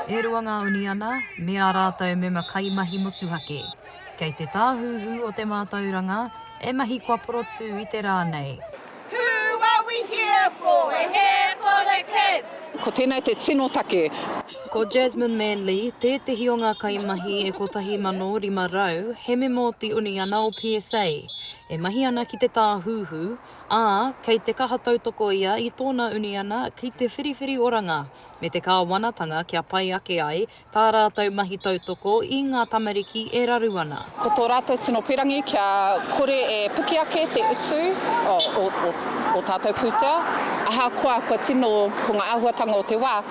E rua ngā uniana me ā rātou mema kaimahi motuhake kei te Tāhuhu o te Mātauranga e mahi kua porotū i te rā nei. Ko tēnei te tino take. Ko Jasmine Manley tētehi o ngā kaimahi e 1500 he mema o te uniana o PSA. e mahi ana ki te Tāhuhu, ā, kei te kaha tautoko ia i tōna uniana ki te whiriwhiri oranga me te kāwanatanga kia pai ake ai tā rātou mahi tautoko i ngā tamariki e raru ana. Ko tō rātou tino pīrangī kia kore e piki ake te utu o ō tātou pūtea, ahakoa kua tino, ko ngā āhuatanga o te wā,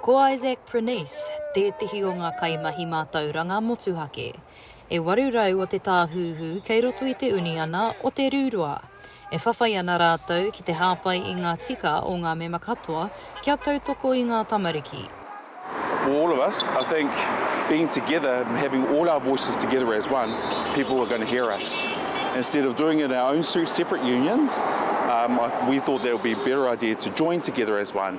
Ko Isaac Prenece tētehi o ngā kaimahi mātauranga motuhake. E 800 o te tāhūhū kei roto i te uniana o Te Rūroa. E whawhai ana rātou ki te hāpai i ngā tika o ngā mema katoa kia tautoko i ngā tamariki. For all of us, I think being together, having all our voices together as one, people are going to hear us. Instead of doing it in our own separate unions, we thought that it would be a better idea to join together as one.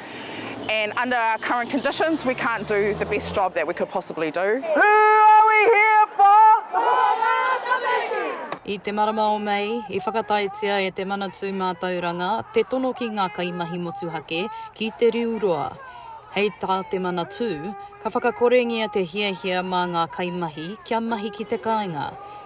and under our current conditions we can't do the best job that we could possibly do. Who are we here for? I te marama o Mei, i whakataetia e Te Manatū Mātauranga te tono ki ngā kaimahi motuhake ki Te Riu Roa. Hei tā Te Manatū, ka whakakorengia te hiahia mā ngā kaimahi kia mahi ki te kāinga,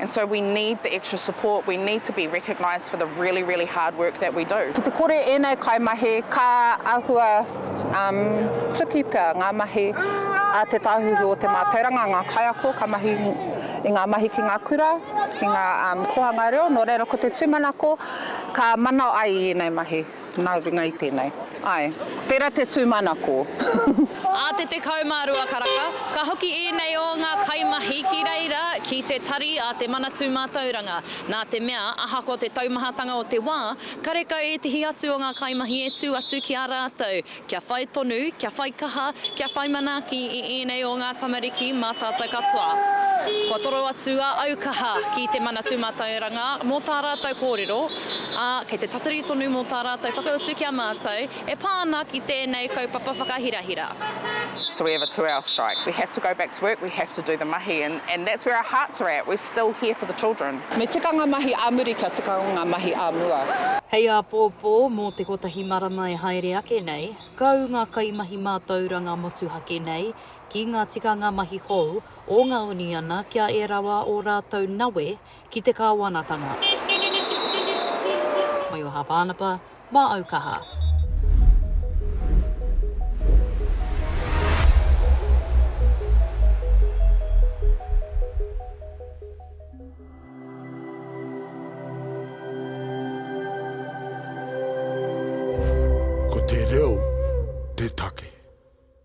and so we need the extra support, we need to be recognised for the really, really hard work that we do. Ki te kore ēnei kaimahi ka āhua tuki pea ngā mahi a Te Tāhuhu o Te Mātauranga, ngā kaiako ka mahi i ngā mahi ki ngā kura, ki ngā kōhanga reo, nō reira ko te tūmanako ka mana ai i ēnei mahi. Nā runga i tēnei. Āe. Tērā te tūmanako. Ā te 12 karaka, ka hoki ēnei o ngā kaimahi ki reira ki te tari a Te Manatū Mātauranga, nā te mea, ahakoa te taumahatanga o te wā, karekau ētehi atu o ngā kaimahi e tū atu ki a rātou, Kia whai tonu, kia whai kaha, kia whai manaaki i ēnei o ngā tamariki mā tātou katoa. Kua toro atu a au kaha ki te Manatū Mātauranga mō tā rātou kōrero, ā, kei te tatari tonu mō tā rātou whakautu ki a mātou e pā ana ki tēnei kaupapa whakahirahira. So we have a two hour strike, we have to go back to work, we have to do the mahi and that's where our hearts are at, we're still here for the children. Me tika ngā mahi ā muri kia tika ngā mahi ā mua. Hei āpōpō, mō te kotahi marama e haere ake nei, ka ū ngā kaimahi mātauranga motuhake nei ki ngā tikanga mahi hou o ngā uniana kia e rawa ō rātou nawe ki te kāwanatanga. Maioha Pānapa, Mā au kaha. Ko te reo te take.